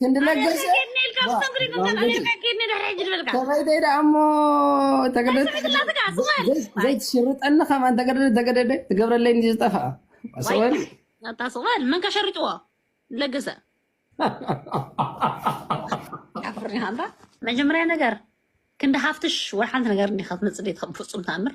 ክንዲ ለገሰ ሰበይተይ ደኣ እሞ ዘይትሽርጠኒ ከማ እንተገደደ ተገደደ ትገብረለይ እንዲ ዝጠፍኣ ሰወል ኣታ ስቕበል መን ከሸርጭዎ ለገሰ መጀመርያ ነገር ክንዲ ሃፍትሽ ወይ ሓንቲ ነገር እንዲካ ትመፅእ ደ ከም ፍፁም ተኣምር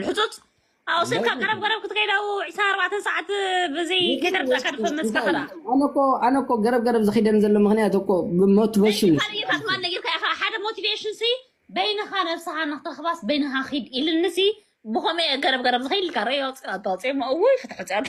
ልሕፁፅ ኣብኡ ስልካ ቀረብ ገረብ ክትከይድ ኣብኡ ዕስራ ኣርባዕተ ሰዓት ብዘይ ከይተረዳእካ ድፈምስ ካኸዳ ኣነ እኮ ገረብ ገረብ ዝኪደን ዘሎ ምክንያት እኮ ብሞቲቬሽን ካልእታት ማን ነጊርካ ኢኻ ሓደ ሞቲቬሽን ሲ በይንኻ ነብስኻ ንክትረኽባስ በይንኻ ኪድ ኢልኒ ሲ ብኸመይ ገረብ ገረብ ዝኸይድ ኢልካ ረዮ ፅኣ ፅሞ እውይ ፍትሕፅያት